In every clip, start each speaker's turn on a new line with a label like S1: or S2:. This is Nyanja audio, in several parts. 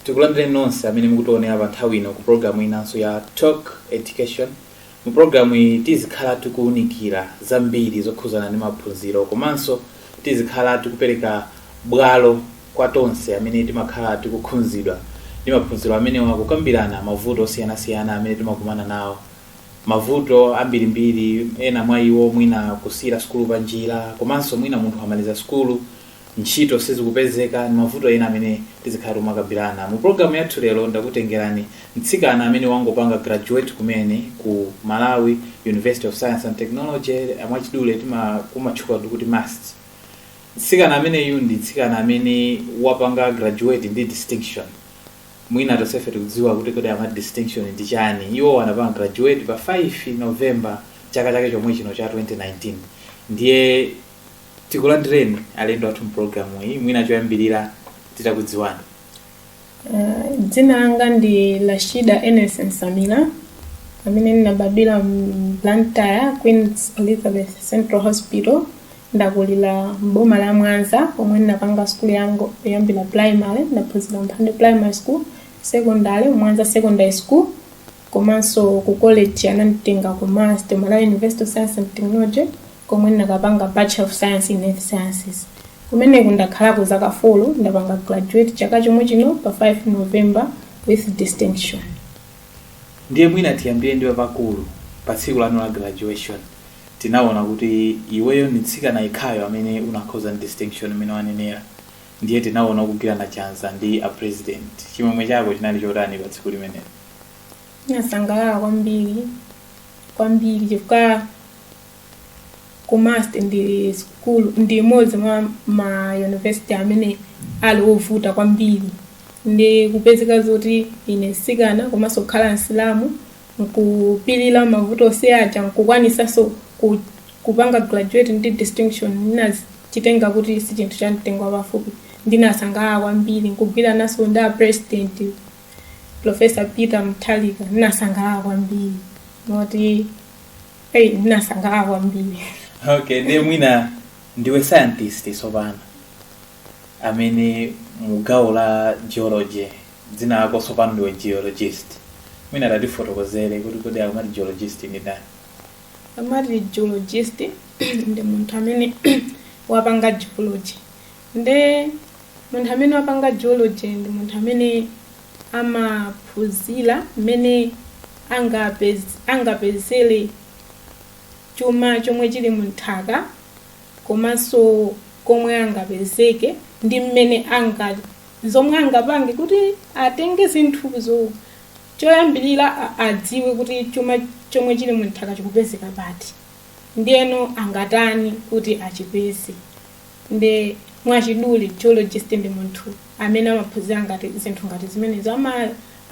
S1: tikulandireni nonse amene mukutionera pa nthawi ino ku programu inanso ya talk education mu programu iyi tizikhala tikuwunikira zambiri zokhuzana ndi maphunziro komanso tizikhala tikupereka bwalo kwa tonse amene timakhala tikukhudzidwa ndi maphunziro amenewa kukambirana mavuto osiyanasiyana amene timakumana nawo mavuto ambirimbiri ena mwa iwo mwina kusiira sukulu panjira komanso mwina munthu amaliza sukulu ntchito sizikupezeka ndi mavuto ena amene tizikhala tikumakambirana. Mu program yathu lero ndakutengerani mtsikana amene wangopanga graduate kumene ku Malawi University of Science and Technology mwachidule tima- kumatchula kuti MUST. Mtsikana ameneyu ndi mtsikana amene wapanga graduate ndi distinction. Mwina tonsefe tikudziwa kuti kodi amati distinction ndi chani. Iwo anapanga graduate pa 5 November chaka chake chomwe chino cha 2019. Ndiye tikulandireni alendo athu mpulogalamu iyi mwina choyambirira titakudziwa Uh, dzina langa ndi Rashida Enes Nsamila amene ndinabadwira mu Blantyre Queen Elizabeth Central Hospital ndakulira m'boma la Mwanza pomwe ndinapanga sukulu yangu kuyambira primary ndaphunzira Mphande primary school secondary Mwanza secondary school komanso ku college ananditenga ku MUST Malawi University of Science and Technology komwe ndinakapanga Bachelor of Science in Earth Sciences. Kumeneku ndakhalako zaka folo, ndapanga graduate chaka chomwe chino pa 5 November with distinction. ndiye mwina tiyambire ndi papakulu pa tsiku lanu la graduation tinaona kuti iweyo ndi mtsikana yekhayo amene unakhoza ndi distinction imene wanenera ndiye tinaona kugwirana chanza ndi a president chimwemwe chako chinali chotani pa tsiku limenelo Ndinasangalala kwambiri kwambiri chifukwa ku must ndi school ndi imodzi mwa ma university amene ali ovuta kwambiri ndi kupezeka zoti ine msikana komanso kukhala msilamu nkupilira mavuto onse aja nkukwanisanso ku, kupanga graduate ndi distinction ndinachitenga kuti si chinthu cha mtengo wapafupi ndinasangalala kwambiri nkugwirananso ndi a president professor peter mutharika ndinasangalala kwambiri moti Hey, ndinasangalala kwambiri okay ndiye mwina ndiwe scientist tsopano amene mu gawo la geology dzina lako tsopano ndiwe geologist mwina tatifotokozere kuti kodi akamati geologist ndi ndani akamati geologist ndi munthu amene wapanga geology nde munthu amene wapanga geology ndi munthu amene amaphunzira mmene angapez- angapezere chuma chomwe chili munthaka komanso komwe angapezeke ndi mmene anga zomwe angapange kuti atenge zinthuzo choyambirira a- adziwe kuti chuma chomwe chili munthaka chikupezeka pati ndiyeno angatani kuti achipeze nde mwachidule geologist ndi munthu amene amaphunzira ngati zinthu ngati zimenezo ama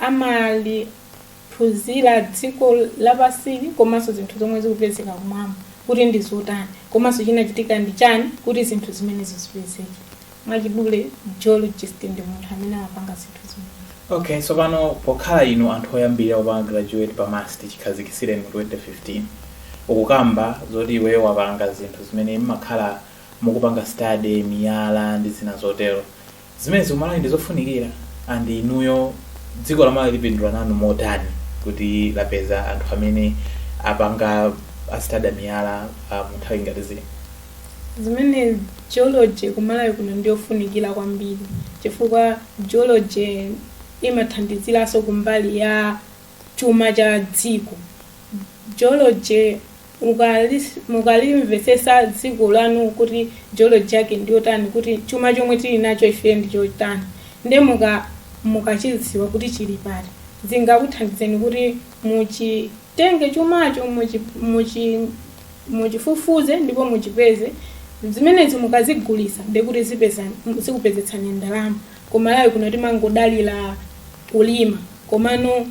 S1: amaliphunzira dziko lapansili komanso zinthu zomwe zikupezeka kumwamba kuti ndi zotani komanso chinachitika ndi chani kuti zinthu zimenezo zipezeke mwachidule geologist ndi munthu amene amapanga zinthu zimenezo Ok tsopano pokhala inu anthu oyambirira kupanga graduate pa MUST chikhazikitsireni mu 2015 ukukamba zoti iweyo wapanga zinthu zimene mmakhala mukupanga study miyala ndi zina zotero zimenezi ku Malawi ndizofunikira and inuyo dziko la Malawi lipindula nanu motani kuti lapeza anthu amene apanga study miyala ah, mu nthawi ngati zino zimene geology ku Malawi kuno ndiyofunikira kwambiri chifukwa Geology imathandiziranso kumbali ya chuma cha dziko. Geology mukalimvetsetsa dziko lanu kuti geology yake ndi yotani kuti chuma chomwe tili nacho ife ndi chotani nde muka mukachidziwa kuti chili pati zingakuthandizeni kuti muchi tenge chumacho, muchi, muchi, muchifufuze ndipo muchipeze, zimenezi mukazigulitsa ndiye kuti zipeza, zikupezetsani ndalama. Ku Malawi kuno timangodalira kulima komano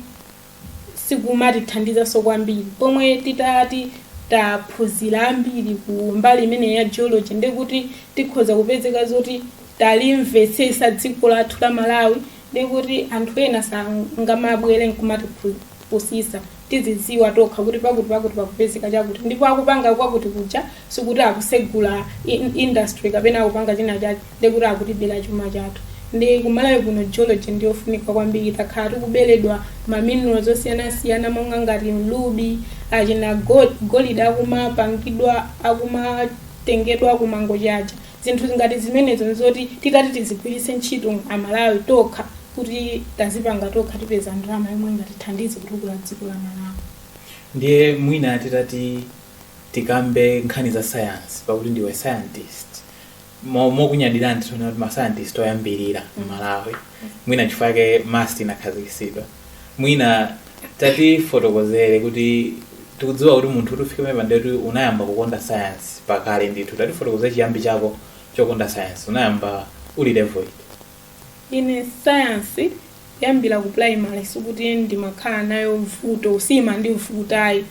S1: sikumatithandizanso kwambiri. Pomwe titati taphunzira ambiri ku mbali imeneyi ya geology ndiye kuti tikhoza kupezeka zoti talimvetsetsa dziko lathu la Malawi ndiye kuti anthu ena sangamabwere nkumatiphu. sitsa. Tizidziwa tokha kuti pakuti pakuti pakupezeka chakuti ndipo akupanga kwakuti kuja sikuti akusegula in- industry kapena akupanga china chake nde kuti akutibera chuma chathu nde ku Malawi kuno geology ndi yofunika kwambiri takhala tikuberedwa maminerals osiyanasiyana monga ngati ma ruby achina go- golide akumapangidwa akumatengedwa ku Mangochi cha zinthu ngati zimenezo nzoti titati tizigwiritsa ntchito aMalawi tokha kuti tazipanga tokha tipeza ndalama yomwe ingatithandize kutukula dziko la malawi ndiye mwina titati tikambe nkhani za science pakuti ndiwe scientist Mo- mokunyadira ndithu titati mascientist oyambirira mmalawi mwina chifukwa yake MUST inakhazikitsidwa mwina tatifotokozere kuti tikudziwa kuti munthu kuti ufike pamenepa nde kuti unayamba kukonda science pakale ndithu tatifotokozere chiyambi chako chokonda science unayamba uli level iti Ine science kuyambira ku primary sikuti ndimakhala nayo vuto siimandivuta ayi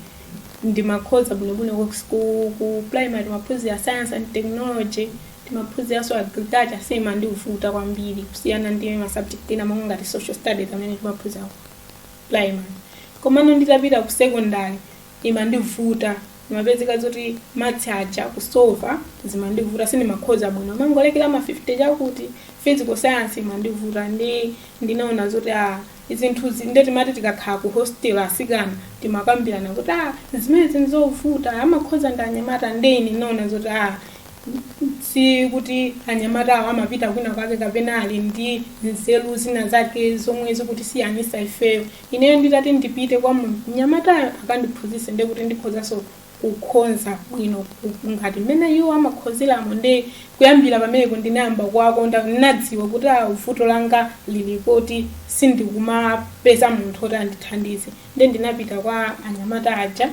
S1: ndimakhoza bwinobwino ku, ku, ku primary timaphunzira science and technology timaphunziranso agriculture siyimandivuta kwambiri kusiyana ndi ma subject ena monga ngati social studies amene timaphunzira ku primary komano nditapita ku secondary imandivuta ndimapezeka zoti maths aja kusova zimandivuta sindimakhoza bwino ndimangolekera ma 50 chakuti physical science imandivuta nde ndinaona zoti a zinthuzi nde timati tikakhala ku hostel asikana timakambirana kuti a zimenezi nzovuta amakhoza ndi anyamata nde ine ndinaona zoti a si kuti anyamata awo amapita kwina kwake kapena ali ndi nzeru zina zake zomwe zikutisiyanisa ifeyo Ineyo nditati ndipite kwa munthu mnyamatayo akandiphunzitse nde kuti ndikhozanso kukhoza bwino ku- ngati mmene iwo amakhozeramo nde kuyambira pamenepo ndinayamba kuwakonda ndinadziwa kuti a vuto langa lili poti sindikumapeza munthu oti andithandize ndiye ndinapita kwa anyamata aja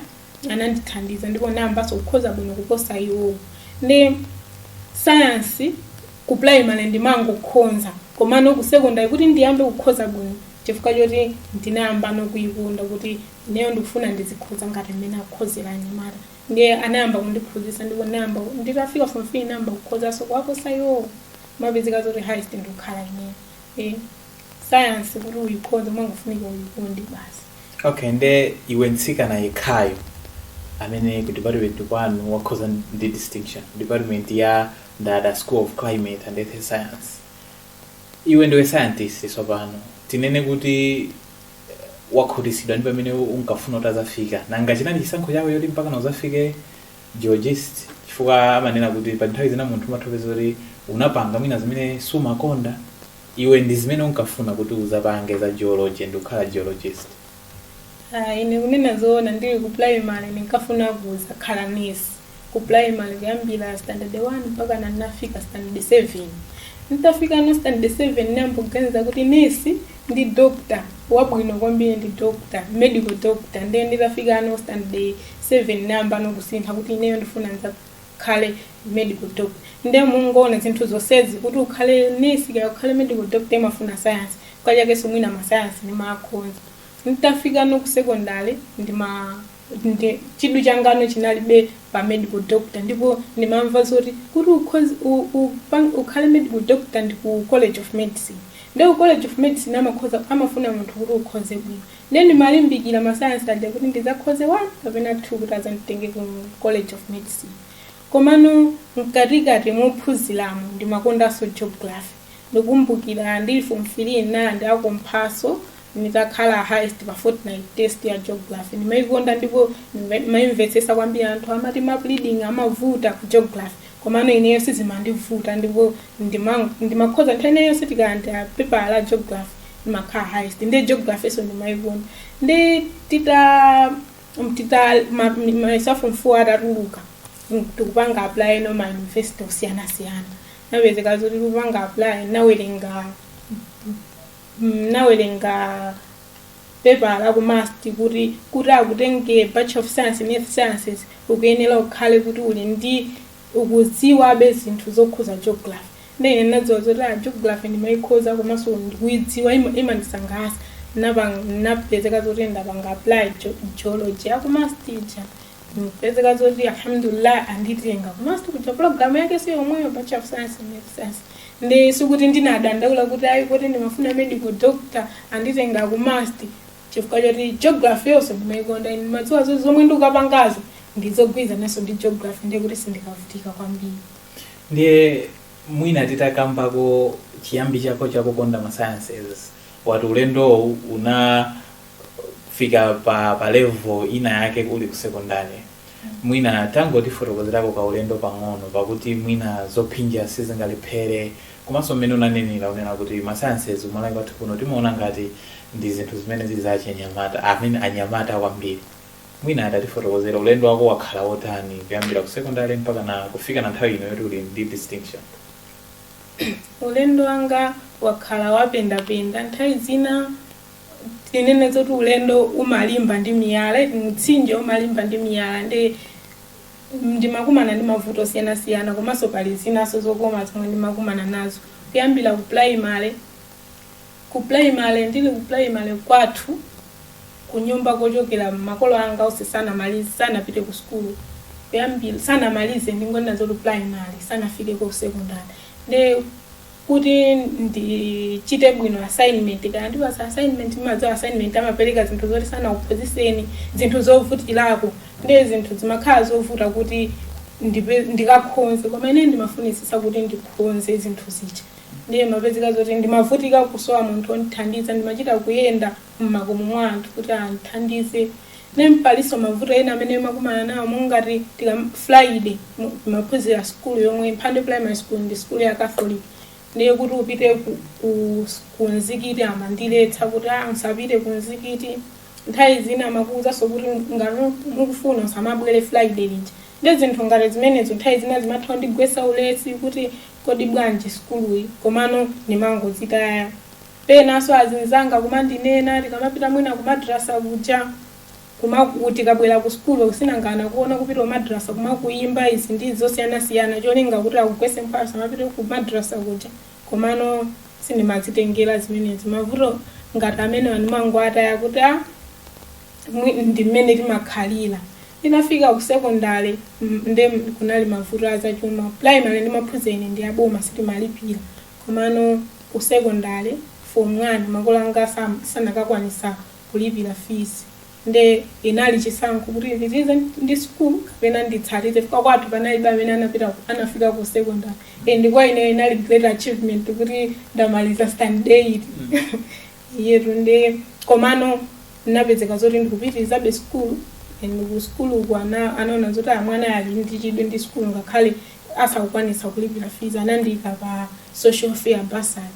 S1: anandithandiza ndipo nayambanso kukhoza bwino kuposa iwowo ndiye sayansi ku primary ndimangokhoza komano ku secondary kuti ndiyambe kukhoza bwino chifukwa choti ndinayambano kuyikonda kuti ineyo ndikufuna ndizikhoza ngati mmene akukhozera anyamata ndiye anayamba kundiphunzitsa ndipo nayamba nditafika form three nayamba kukhozanso kuwaposa iwowo mapezeka zoti highest ndikukhala ineyo Eh, sayansi kuti uyikhoze imangofunika uyikonde basi okay nde iwe mtsikana yekhayo amene ku department kwanu wakhoza ndi distinction department ya Ndata school of climate and earth science iwe ndiwe scientist tsopano tinene kuti eh, wakhutitsidwa ndi pamene unkafuna kuti uzafike nanga chinali chisankho chako choti mpaka uzafike geologist chifukwa amanena kuti pa nthawi zina munthu umatha kupeza kuti unapanga mwina zimene sumakonda Iwe ndi zimene unkafuna kuti uzapange za geology ndikukhala geologist? Ah, ine kunena zoona ndili ku primary ndinkafuna kuzakhala nurse. Ku primary kuyambira standard 1 mpakana ndinafika standard 7. Nditafikano standard 7 ndinayamba kuganiza kuti nurse ndi doctor wabwino kwambiri ndi doctor, medical doctor. Ndiye nditafikano standard 7 ndinayambano kusintha kuti ineyo ndifuna nza ukhale medical doctor nde mungaona zinthu zonsezi kuti ukhale nesi kaya ukhale medical doctor imafuna sayansi kachakeso mwina masayansi ndimakhonza nditafikano ku secondary ndima ndi chidwi changano chinalibe pa medical doctor ndipo ndimamva zoti kuti ukhozi- u- upang- ukhale medical doctor ndi ku college of medicine ndi ku college of medicine amakhoza amafuna munthu kuti ukhoze bwino Nde ndimalimbikira ma science aja kuti ndizakhoze 1 kapena 2 kuti azanditenge ku college of medicine komano mkatikati mophuziramo ndimakondanso geography ndikumbukira ndili form 3 nna ndiakomphaso ndikakhala highest pa fortnight test ya geography ndimaikonda ndipo ndimve- ndimaimvetsesa kwambiri anthu amati map reading amavuta ku geography Komano ineyo sizimandivuta ndipo ndima ndimakhoza nthawi ina yonse tikalandira pepala la geography ndimakhala highest nde geographynso ndimaikonda nde tita tita ma- mi- mayeso a form four atatuluka mm, tikupanga apply ma university osiyanasiyana ndapezeka zoti tikupanga apply nawerenga mm, nawerenga pepala ku must kuti kuti akutenge Bachelor of Science in Earth Sciences ukuyenera ukhale kuti uli ndi ukudziwabe zinthu zokhuza geography nde ine ndinadziwa zoti a geography ndimayikhoza komanso ndikuyidziwa ima- imandisangalatsa Napang- napezeka zoti ndapanga apply geo- geology a ku must kuja ndapezeka zoti alhamdulillah anditenga ku must kuja program yake siyomweyo bachelor of science in Earth sciences ndi sikuti ndinadandaula kuti ayi kuti ndimafuna medical doctor anditenga ku must chifukwa choti geography yonso ndimaikonda ine ndimadziwa zo- zomwe ndikapangazi ndizogwirizananso ndi geography ndiye kuti sindikavutika kwambiri ndiye mwina titakambako chiyambi chako chakukonda ma sciences wati ulendowu una kufika pa, pa level inayake uli ku secondary mwina tangotifotokozerako kaulendo pang'ono pakuti mwina zophinja sizingalephere komanso mmene unanenera unena kuti ma sciences ku Malawi kwathu kuno timaona ngati ndi zinthu zimene zili za achinyamata amene anyamata kwambiri mwina atatifotokozera ulendo wako wakhala wotani kuyambira ku secondary mpakana kufikana nthawi ino yoti uli ndi distinction ulendo wanga wakhala wapendapenda nthawi zina tinene zoti ulendo umalimba ndi miyala iti mtsinje umalimba ndi miyala nde ndimakumana ndi mavuto osiyanasiyana komanso pali zinaso zokoma zomwe ndimakumana nazo kuyambira ku primary ku primary ndili ku primary kwathu kunyumba kochokera makolo anga onse sanamalize sanapite ku sukulu kuyambira sanamalize ndingonena zoti primary sanafike ku secondary ndi kuti ndichite bwino assignment kaya andipatsa assignment ndimadziwa assignment amapereka zinthu zoti sanakuphunzitseni zinthu zovutirako ndiye zinthu zimakhala zovuta kuti ndipe- ndikakhonze koma ine ndimafunitsitsa kuti ndikhonze zinthu zija ndiye ndimapezeka zoti ndimavutika kusowa munthu ondithandiza ndimachita kuyenda mmakomo mwa anthu kuti andithandize then palinso mavuto ena amene ndimakumana nawo monga ngati tikafika friday mu- timaphunzira sukulu yomwe mphande primary school ndi sukulu ya catholic ndiye kuti upite ku, ku, ku mzikiti amandiletsa kuti a usapite ku mzikiti nthawi zina amakuwuzanso kuti ngati ukufuna usamabwere friday lija ndi zinthu ngati zimenezo nthawi zina zimatha kundigwetsa ulesi kuti kodi bwanji sukuluyi komano ndimangozitaya Penanso azinzanga kumandinena tikamapita mwina ku madrasa kuja, kumaku tikabwera ku school kuti nanga anakuona kupita ku madrasa kumakuyimba izi ndi izi zosiyanasiyana cholinga kuti akugwetse mphwayo usamapite ku madrasa kuja komano sindimazitengera zimenezi mavuto ngati amenewa ndimangowataya kuti a mwi ndi mmene timakhalira. Nditafika ku secondary mm nde kunali mavuto a zachuma, primary ndimaphunzira ine ndi aboma sitimalipira Komano ku secondary form 1 makolo anga sanakakwanitsa kulipira fees nde inali chisankho kuti ndipitilize ndi school kapena nditsalire chifukwa kwathu panalibe amene anapita anafika ku secondary and kwa ineyo inali great achievement kuti ndamaliza standard 8 eti nde komano ndinapezeka zoti ndikupitirizabe school and ku school uku ana- anaona zoti a mwanayu ali ndi chidwi ndi school ngakhale asakukwanitsa kulipira fees anandiika pa social welfare bursary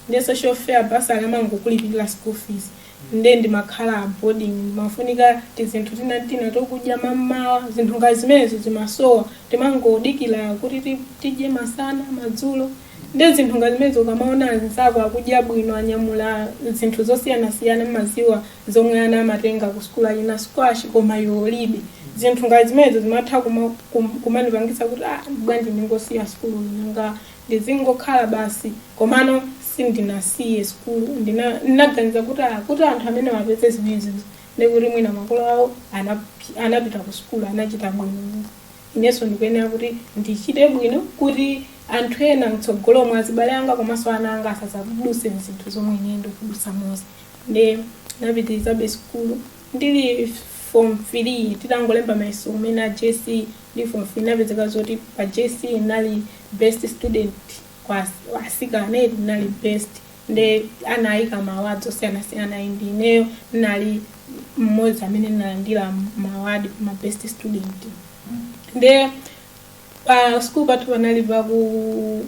S1: nde social welfare bursary amangokulipirira school fees nde ndimakhala boarding kumafunika tizinthu tina tina tokudya mmamawa zinthu ngati zimenezo zimasowa timangodikira kuti ti- tidye masana madzulo nde zinthu ngati zimenezo ukamaona anzako akudya bwino anyamula zinthu zosiyanasiyana mumadziwa zomwe ana amatenga ku sukulu achina squash koma iwe ulibe zinthu ngati zimenezo zimatha kuma- kum- kumandipangitsa kuti ah, bwanji ndingosiya sukulu nanga ndizingokhala basi komano sindinasiye sukulu Ndina- ndinaganiza kuti ah, kuti anthu amenewa apeze zimenezo ndikuti mwina makolo awo anapi- anapita ku sukulu anachita bwino inenso ndikuyenera kuti ndichite bwino kuti anthu ena mtsogolo mwa azibale anga komanso ana anga asadzadutse mzinthu zomwe ine ndikudutsamozi nde ndinapitirizabe sukulu ndili form 3 tinangolemba mayeso kumene a jc ndili form 3 ndinapezeka zoti pa jc ndinali best student kwa as- asikana eti ndinali best nde anayika mawadi osiyanasiyana ayi ndi ineyo ndinali mmodzi amene ndinalandira mawadi ma best student nde pa sikulu pathu panali paku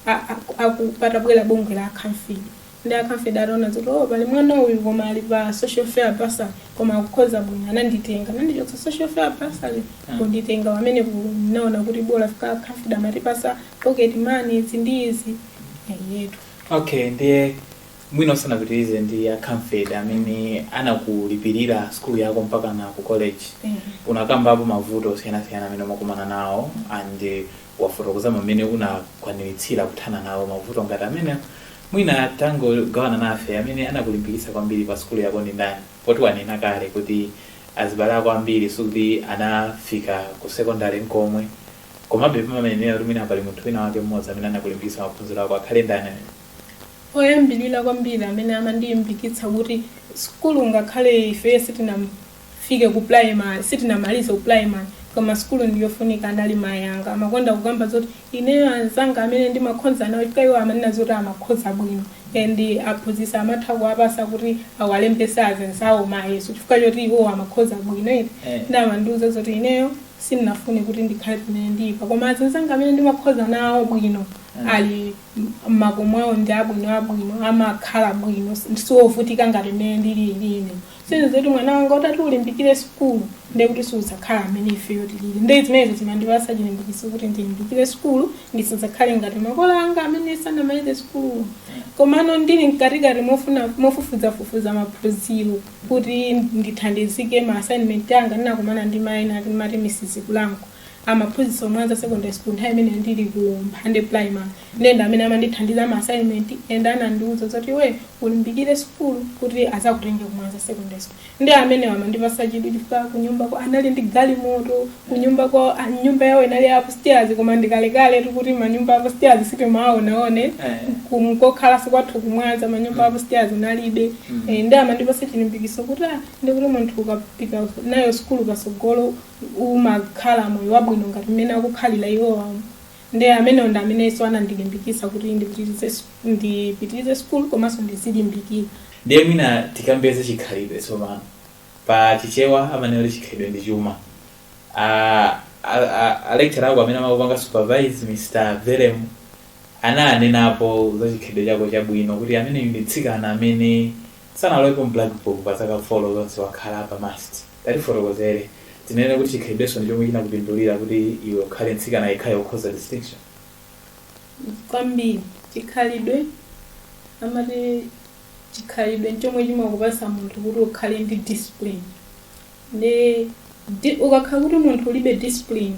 S1: a- a- aku- patabwera bungwe la a CAMFED Nde a CAMFED ataona zoti oh pali mwana uyu koma ali pa social welfare bursary koma akukhoza bwino ananditenga anandichotsa social welfare bursary kunditenga pamene ndinaona kuti bola chifukwa a CAMFED amatipasa pocket money izi ndi izi eyetu okay ndiye mwina usanapitirize ndi a CAMFED amene anakulipirira skulu yako mpaka na ku college unakambapo mavuto osiyanasiyana amene umakumana nawo and eh, wafotokozamo mmene unakwaniritsira kuthana nawo mavuto ngati amenewo, mwina tangogawana nafe amene anakulimbikitsa kwambiri pa sukulu yako ndi ndani? Poti wanena kale kuti azibale ako ambiri sikuti anafika ku sekondale n'komwe, komabe pamayenera kuti mwina pali munthu winawake mmodzi amene anakulimbikitsa maphunziro ako. Angakhale ndani ameneyo? Oyambirira kwambiri amene amandilimbikitsa kuti sukulu ngakhale ifeyo sitinam. fike ku primary sitinamalize ku primary koma sukulu ndi yofunika anali mayi anga amakonda kukamba zoti ineyo anzanga amene ndimakhoza nawo chifukwa iwo amanena zoti amakhoza bwino and aphunzitsi amatha kuwapasa kuti awalembese azinzawo mayeso chifukwa choti iwo amakhoza bwino eti Eh. nde amandiuza zoti ineyo sindinafune kuti ndikhale pamene ndilipa koma azinzanga amene ndimakhoza nawo bwino Mm. ali m- makomo awo ndi abwino abwino amakhala bwino siovutika ngati mmene ndili ine zizakuti mwana wanga utati ulimbikire sukulu ndiye kuti siudzakhala mmene ifeyo tilili ndiye zimenezo zimandipatsa chilimbikitso kuti ndilimbikire sukulu ndisadzakhale ngati makolo anga amene sanamalize sukulu komano ndili mkatikati mofuna- mofufuzafufuza maphunziro kuti ndithandizike ma assignment anga ndinakumana ndi mayi ena amati Mrs kulango amaphunzitsa ku Mwanza secondary school nthawi imene ndili ku mphande primary nde ndi amene amandithandiza ma assignment nde anandiuza zoti iwe ulimbikire sukulu kuti azakutenge ku Mwanza secondary school ndi amene amandipasa chidwi chifukwa kunyumba kwawo anali ndi galimoto kunyumba kwa ah, nyumba yawo inali ya upstairs koma ndikalekale tikuti manyumba a upstairs sitimawaonaona Eh. kunkakhala si kwathu ku Mwanza manyumba a upstairs kunalibe Mm. Eh, nde amandipasa chilimbikiso kuti ah, nde kuti munthu ukapita nayo sukulu pasogolo umakhala moyo wabwino ngati mmene akukhalira iwowa ndiye amenewo ndi amenenso anandilimbikitsa kuti ndipitirize s- ndipitirize sukulu komanso ndizilimbikira ndiye mwina tikambe za chikhalidwe tsopano pa chichewa amanena kuti chikhalidwe ndi chuma A- a- a- alectura ako amene amakupanga supervise mr verem ananenapo za chikhalidwe chako chabwino kuti ameneyu ndi mtsikana amene sanalowepo mblackbook pa zaka four zonse wakhala pa MUST Tatifotokozere. Tinene kuti chikhalidwenso ndi chomwe chinakupindulira kuti iwe ukhale mtsikana yekhayo wokhoza distinction? Kwambiri. Chikhalidwe, amati chikhalidwe n'chomwe chimakupatsa munthu kuti ukhale ndi discipline. Ndi di ukakhala kuti munthu ulibe discipline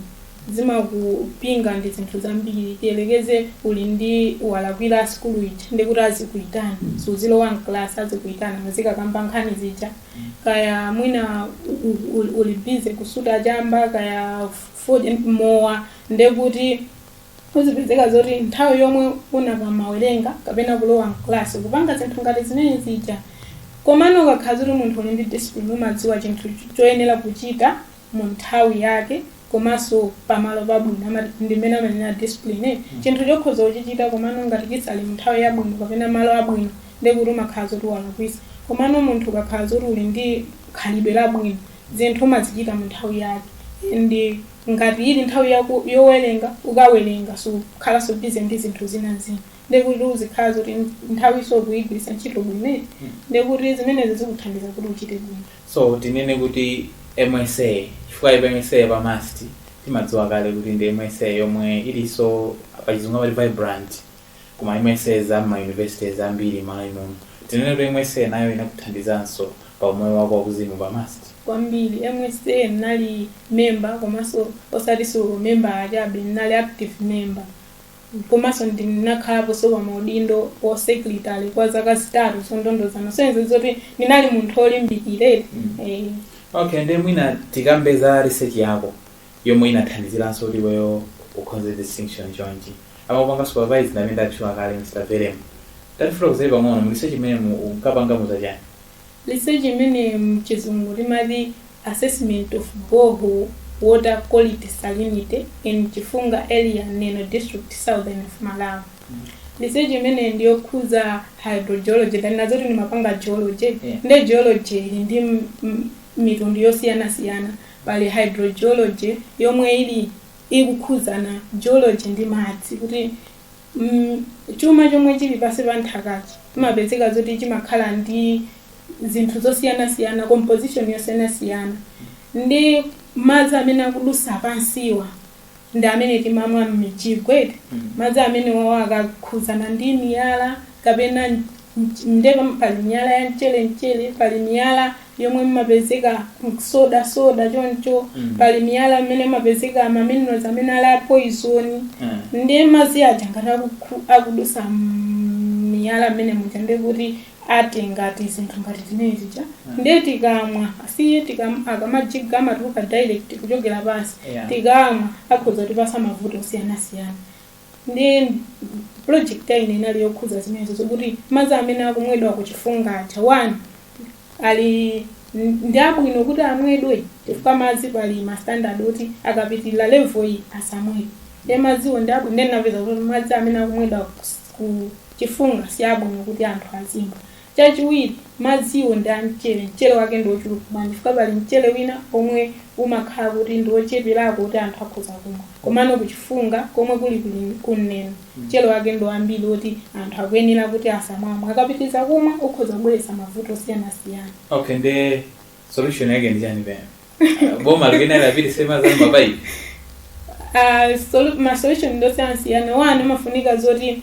S1: zimakupinga ndi zinthu zambiri. Tiyerekeze uli ndi walakwira asukulu ija ndekuti azikuitana, suzilowa m'kalasi azikuitana muzikakamba nkhani zija. kaya mwina uli busy kusuta chamba kaya fodya ndi mowa ndekuti uzipezeka zoti nthawi yomwe unakamawerenga kapena kulowa mklasi kupanga zinthu ngati zimene zija komano ukakhala zoti munthu uli ndi discipline umadziwa chinthu choyenera kuchita mu nthawi yake komanso pamalo pabwino amati ndi mmene amanena discipline eh? chinthu chokhoza kuchichita komano ngati sichili mu nthawi yabwino kapena malo abwino ndiye kuti umakhala zoti walakwisa komano munthu ukakhala zoti uli ndi khalidwe labwino zinthu umazichita mu nthawi yake ndi ngati ili nthawi yaku- yowerenga ukawerenga sukhalanso busy ndi zinthu zina zina ndekuti uzikhala zoti nthawi ija ukuyigwiritsa ntchito bwino ndekuti zimenezi zikuthandiza kuti uchite bwino So tinene kuti MSA chifukwa MSA ya pa must timadziwa kale kuti ndi MSA yomwe iliso pachizungu amati vibrant ku ma MSA za m'ma universities ambiri m'malawi muno tinene kuti MSA nayo inakuthandizanso pa umoyo wako wakuzimu pa must kwambiri msa mnali member komanso osatiso member chabe mnali active member komanso ndinakhalaponso pa maudindo a secretary kwa zaka zitatu zondondozana kusonyeza zoti ndinali munthu olimbikira eh, okay nde mwina tikambe za research yako yomwe inathandiziranso kuti iweyo ukhonze distinction chonchi amakupanga supervise ndamene ndatchula kale mr verem tatifotokozere pang'ono mu research imene mu- unkapanga ndi za chani Research imene mchizungu timati Assessment of Borehole Water Quality Salinity in Chifunga Area Neno District Southern of Malawi. Research imeneyi ndi yokhuza hydrogeology tanena zoti ndimapanga geology Yeah. nde geology ili ndi m- m- mitundu yosiyanasiyana pali hydrogeology yomwe ili ikukhuzana geology ndi madzi kuti M, Chuma chomwe chili pansi pa nthakachi chimapezeka zoti chimakhala ndi zinthu zosiyanasiyana, composition yosiyanasiyana ndi madzi amene akudutsa pansiwa ndi amene timamwa m'mijigo eti, madzi amenewa akakhudzana ndi miyala kapena mch- nde pam- pali miyala ya mchere mchere, pali miyala yomwe imapezeka m'soda soda choncho Mm. pali miyala imene imapezeka ma minerals amene ali a poison Eh. ndiye madzi aja ngati akukhu- akudusa miyala mmene muja ndiye kuti atenga tizinthu ngati timene tija ndiye tikamwa asiye tikam- tikamajiga amatuluka direct kuchokera pansi Yeah. tikamwa akhoza kutipasa mavuto osiyanasiyana ndiye project ya ine inali yokhudza zimenezo zokuti madzi amene akumwedwa ku Chifunga aja one ali ndi abwino kuti amwedwe chifukwa madzi pali ma standard oti akapitirira level iyi asamwedwe nde madziwo ndi abwino nde ndinapeza kuti madzi amene akumwedwa ku Chifunga si abwino kuti anthu azimwa Chachiwiri, madziwo ndi a mchere. Mchere wake ndi ochuluka bwanji? Chifukwa pali mchere wina omwe umakhala kuti ndi ocheperako oti anthu akhoza kumwa. Komano ku Chifunga komwe kuli ku Neno, mchere wake ndi wambiri oti anthu akuyenera kuti asamamwe. Akapitiriza kumwa ukhoza kubweretsa mavuto osiyanasiyana. Okay, nde solution yake ndi chani pena Ah, boma likena lapiti sema zanu mapayi Ah, solu- ma solution ndosiyanasiyana one amafunika zoti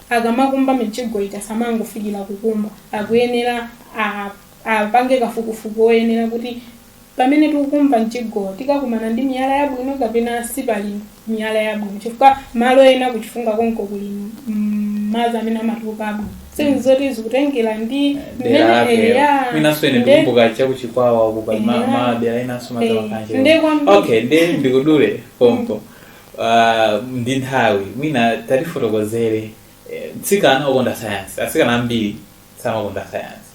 S1: akamakumba mijigo eti asamangofikira kukumba akuyenera a- apange kafukufuku oyenera kuti pamene tikukumba mjigo tikakumana ndi miyala yabwino kapena sipali ndi miyala yabwino chifukwa malo ena ku Chifunga konko kuli madzi amene amatuluka abwino sikuti zoti zikutengera ndi dera mmene- lake eya, mwinanso ine nde- ndikumbuka cha ku Chikwawa uku pali ma- Eya. madera enanso Eh, matalakanje nde kwambiri. okay nde ndikudule pompo Ah, ndi nthawi mwina tatifotokozere eh, mtsikana okonda sayansi atsikana ambiri samakonda sayansi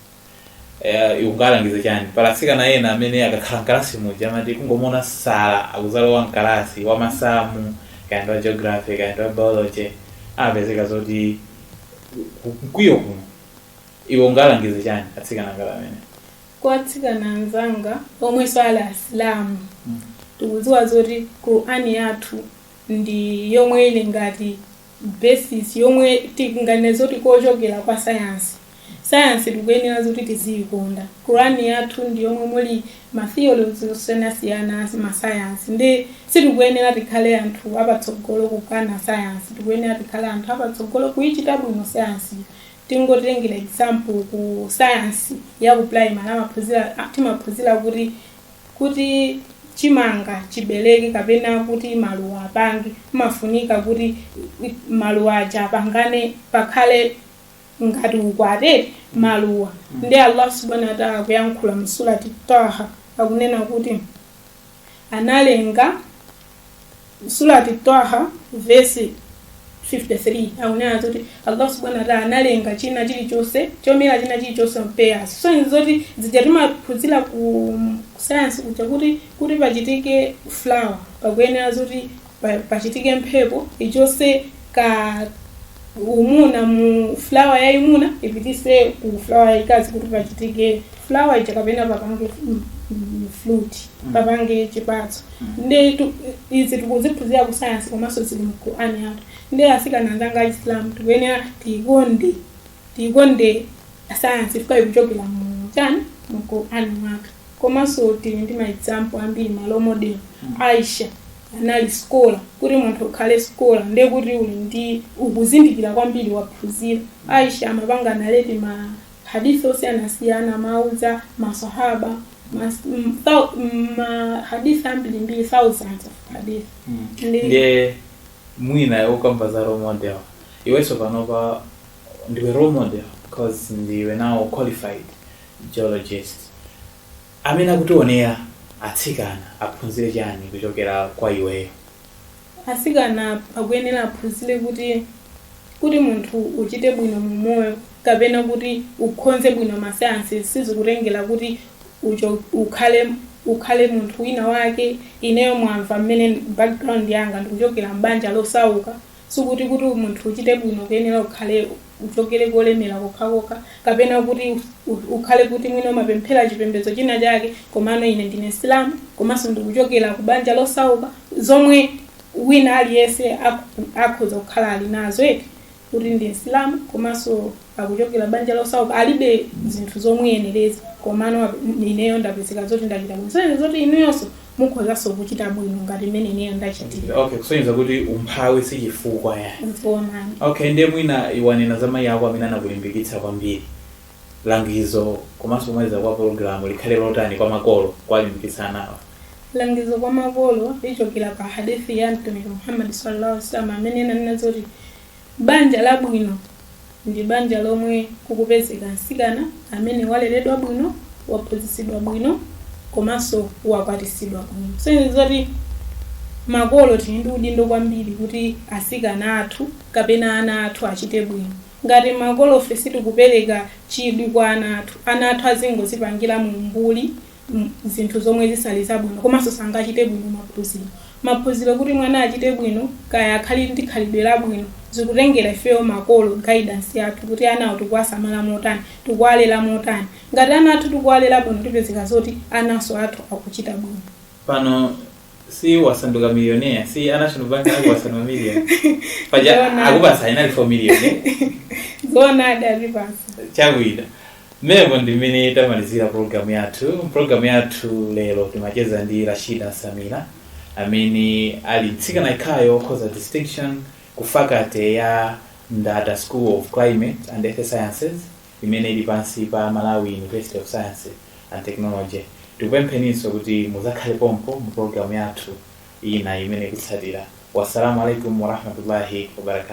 S1: Eh, iwe ungawalangize chani pa atsikana ena amene akakhala mkalasi muja amati kungomuona sir akuzalowa mkalasi wa masamu kaya ndi wa geography kaya ndi wa biology amapezeka zoti ku- mkwiyo kuno iwe ungawalangize chani atsikana ngati amenewa kwa atsikana anzanga omwenso ali asilamu tikudziwa zoti qur'ani yathu ndi yomwe ili ngati basis yomwe tinganene zoti kochokera kwa sayansi Sayansi tikuyenera zoti tiziyikonda. Quran yathu ndi yomwe muli ma theories osiyanasiyana a ma science ndiye sitikuyenera tikhale anthu apatsogolo kukana sayansi tikuyenera tikhale anthu apatsogolo kuyichita bwino sayansiyo. Tingotengera example ku sayansi ya ku primary amaphunzira a- timaphunzira kuti kuti chimanga chibereke kapena kuti maluwa apange pamafunika kuti i- maluwa aja apangane pakhale ngati ukwati wa maluwa ndi Allah subhanahu wa ta'ala kuyankhula mu surati Taha akunena kuti analenga surati Taha verse 53 akunena kuti Allah subhanahu wa ta'ala analenga china chilichonse chomera china chilichonse m'pairs so ndi zoti zija timaphunzira ku science kuja kuti kuti pachitike flower pakuyenera zoti pa- pachitike mphepo ichose ka umuna mu fulawa yayimuna ipitise ku fulawa yayikazi kuti pachitike fulawa ija kapena papange mm, mm, fruit papange chipatso nde tu- izi tikuziphunzira ku sayansi komanso zili mu qur'ani yathu nde asikana anzanga achisilamu tikuyenera tiyikonde tiyikonde sayansi chifukwa ikuchokera mu chani mu qur'ani mwathu komaso tili ndi ma example ambiri ma role model Aisha anali scholar kuti munthu ukhale scholar ndiye kuti uli ndi kuzindikira kwambiri waphunzira Aisha amapanga narrate ma hadith osiyanasiyana amauza masahaba mas- m- thou- m- ma hadith ambirimbiri thousands of hadith Ndi- ndiye mwina tikakamba za role model iwenso panopa ndiwe role model because ndiwe now qualified geologist amene akutionera atsikana aphunzire chani kuchokera kwa iweyo atsikana akuyenera aphunzire kuti kuti munthu uchite bwino mu moyo kapena kuti ukhoze bwino masayansi sizikutengera kuti ucho, ukhale ukhale munthu wina wake ineyo mwamva mmene background yanga ndikuchokera m'banja losauka Sikuti kuti munthu uchite bwino ukuyenera ukhale uchokere kolemera kokhakokha kapena kuti ukhale kuti mwina umapemphera chipembedzo china chake komano ine ndine msilamu komanso ndikuchokera ku banja losauka zomwe wina aliyense akhoza kukhala ali nazo eti kuti ndi msilamu komanso akuchokera banja losauka alibe zinthu zomuyenereza komano ap- ineyo ndapezeka zoti ndachita bwino kusonyeza zoti inuyonso mukhozanso kuchita bwino ngati mmene ineyo ndachitira okay kusonyeza kuti umphawi si chifukwa yayi nzoonadi okay ndiye mwina unanena za mayi ako amene anakulimbikitsa kwambiri langizo komanso pomaliza pa pologalamu likhale lotani kwa makolo kuwalimbikitsa anawo langizo kwa makolo lichokera pa hadithi ya mtumiki muhammadi sallallahu alaihi wasallam amene ananena zoti Banja labwino ndi banja lomwe kukupezeka mtsikana amene waleredwa bwino, waphunzitsidwa bwino komanso wakwatisidwa bwino. Zikusonyeza zoti makolo tili ndi udindo kwambiri kuti atsikana athu kapena ana athu achite bwino. Ngati makolofe sitikupereka chidwi kwa ana athu, ana athu azingodzipangira mu umbuli mm, zinthu zomwe zisali zabwino komanso sangachite bwino maphunziro maphunziro kuti mwana achite bwino kaya akhale ndi khalidwe labwino zikutengera ifeyo makolo guidance yathu kuti anawo tikuwasamala motani tikuwalera motani ngati ana athu tikuwalera bwino tipezeka zoti ananso athu akuchita bwino pano si wasanduka miliyoneya si anational bank anali wasanduka million paja Ndona. akupasa inali 4 million eh? zoona adalipasa chochita Mmenemo ndi mmene tamalizira pulogalamu yathu. M'pulogalamu yathu lero timacheza ndi Rashida Nsamira, amene ali mtsikana yekhayo wokhoza distinction ku faculty ya Ndata School of Climate and Earth Sciences, imene ili pansi pa Malawi University of Science and Technology. Tikupempheninso kuti mudzakhale pompo mu pulogalamu yathu ina imene ikutsatira. Wassalamu alaikum warahmatullahi wabarakatuh.